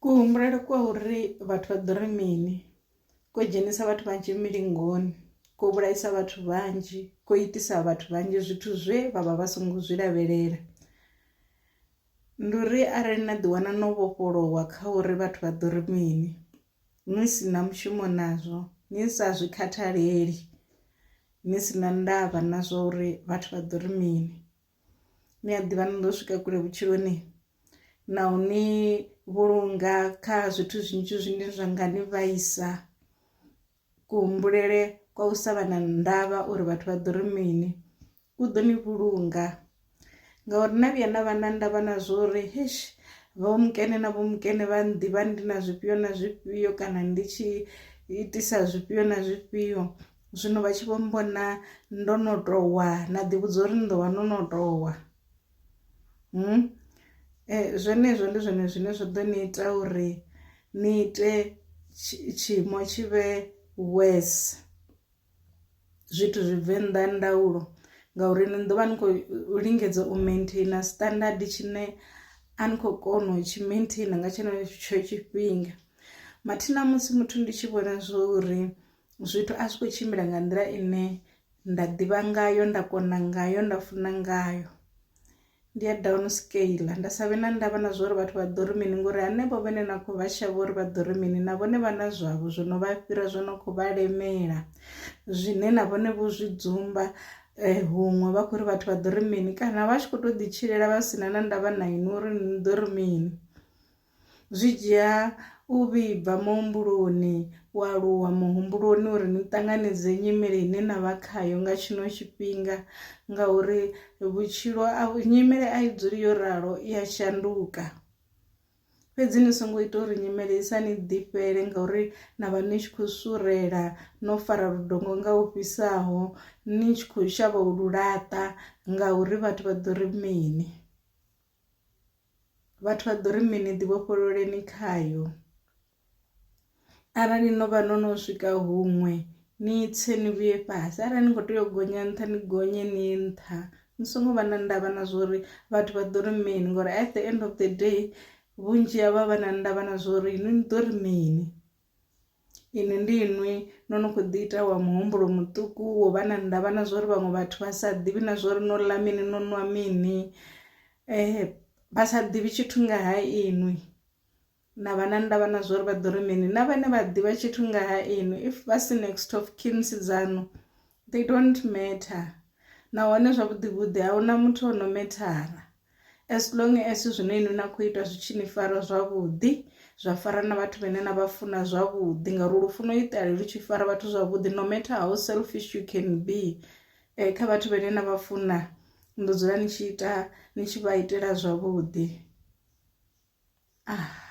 Ku humbulele kwa uri vhathu vha ḓo ri mini ko dzhenisa vhathu vhanzhi milingoni ko vhulaisa vhathu vhanzhi ko itisa vhathu vhanzhi zwithu zwe vha vha vha songo zwi lavhelela, ndi uri arali na ḓi wana no vhofholowa kha uri vhathu vha ḓo ri mini ni si na mushumo nazwo ni sa zwi khathaleli ni si na ndavha na zwa uri vhathu vha ḓo ri mini. ni a ḓivha ni ḓo swika kule vhutshiloni na u ni vhulunga kha zwithu zwinzhi zwine zwa nga ni vhaisa kuhumbulele kwa u sa vha na ndavha uri vhathu vha ḓo ri mini ku ḓo ni vhulunga ngauri na vhuya na vha na ndavha na zwo uri hesh vho mukene na vho mukene vha nḓivha ndi na zwifhio na zwifhio kana ndi tshi itisa zwifhio na zwifhio zwino vha tshi vho mbona ndo no towa na ḓi vhudza uri ni ḓo vha no no towa hmm? eh, zwenezwo ndi zwone zwine zwa ḓo ni ita uri ni ite tshiimo tshi vhe worse zwithu zwi bve nnḓa ndaulo ngauri ni ḓo vha ni khou lingedza u maintaina standard tshine a ni khou kona u tshi maintaina nga tshenetsho tshifhinga mathina musi muthu ndi tshi vhona zwo uri zwithu a zwi kho tshimbila nga nḓila ine nda ḓivha ngayo nda kona ngayo nda funa ngayo ndi ya down scale nda sa vhe na ndavha na zwori vhathu vha ḓo ri mini ngori hanevho vhane na kho vha shavha uri vha ḓo ri mini na vhone vha na zwavho zwo no vha fhira zwo no kho vha lemela zwine na vhone vho zwi dzumba eh, huṅwe vha khou ri vhathu vha ḓo ri mini kana vha tshi kho to ḓi tshilela vha sina na ndavha na inwi uri ni ḓo ri mini Zwi dzhia u vhibva muhumbuloni u aluwa muhumbuloni uri ni ṱanganedze nyimele ine na vha khayo nga tshino tshifhinga ngauri vhutshilo a nyimele a i dzuli yo ralo i ya shanduka, fhedzi ni songo ita uri nyimele i sa ni ḓifhela ngauri na vha ni tshi khou surela no fara ludongo nga u fhisaho ni tshi khou shavha u lu laṱa ngauri vhathu vha ḓo ri mini. vhathu vha ḓo ri mini ḓi vhofhololeni khayo arali no vha no no swika huṅwe ni tse ni vhuye fhasi arali ni kho tea u gonya nṱha ni gonye ni nṱha ni songo vha na ndavha na zwori vhathu vha ḓo ri mini ngori at the end of the day vhunzhi havha vha na ndavha na zwori ni ḓo ri mini. Inwi ndi inwi no no khou ḓi ita wa muhumbulo muṱuku wo vha na ndavha na zwori vhaṅwe vhathu vha sa ḓivhi na zwori no ḽa mini no nwa mini vha sa ḓivhi tshithu nga ha inwi na vha na ndavha na zwori vha ḓo ri mini na vhane vha ḓivha tshithu nga ha inwi if vha si next of kin dzaṋu They don't matter nahone zwavhuḓivhuḓi a huna muthu o no methara as long as zwine inwi na khou ita zwi tshi ni fara zwavhuḓi zwa fara na vhathu vhane na vha funa zwavhuḓi ngauri lu funa u itale lu tshi fara vhathu zwavhuḓi no matter how selfish you can be eh, kha vhathu vhane na vha funa ndo dzula ni tshi ita ni tshi vha itela zwavhuḓi ah.